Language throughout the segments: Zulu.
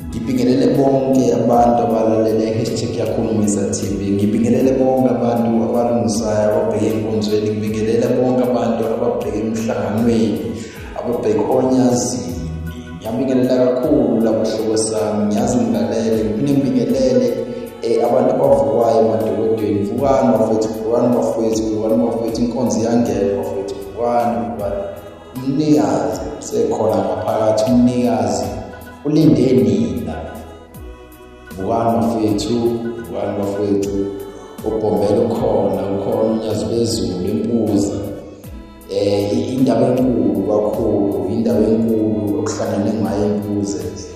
Ngibingelele bonke abantu abalalele hashtag yakho Misa TV. Ngibingelele bonke abantu abalungisayo ababheke enkonzweni. Ngibingelele bonke abantu ababheke emhlanganweni, ababheke onyazini. Ngiyabingelela kakhulu labo hlobo sami. Ngiyazi ngilalele. Ngiphinde ngibingelele eh abantu abavukwayo emadolotweni. Vukani bafethu, vukani bafethu, vukani bafethu. Inkonzo iyangena bafethu. Vukani, vukani. umnikazi sekhona ngaphakathi umnikazi ulinde nina bukani bafethu bukani bafethu ubhombela ukhona ukhona unyazi bezulu impuza um indaba enkulu kakhulu indaba enkulu okuhlangane ngayo impuze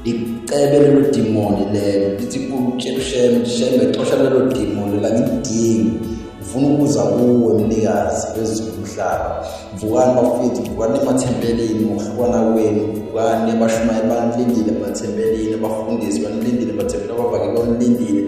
ngicebe lelo dimoni lelo lithi kusheme sheme sheme xosha lelo dimoni la ngidingi ngifuna ukuza kuwe mnikazi wezomhlaba vukani bafethu vukani emathempelini ngokuhlukana kwenu vukani abashumayeli banilindile emathempelini abafundisi banilindile emathempelini abavakeli banilindile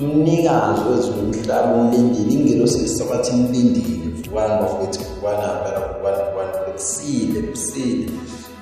umnikazi wezomhlaba umlindile ingelosi lisabathi imlindile vukani bafethu vukani abela vukani vukani kusile kusile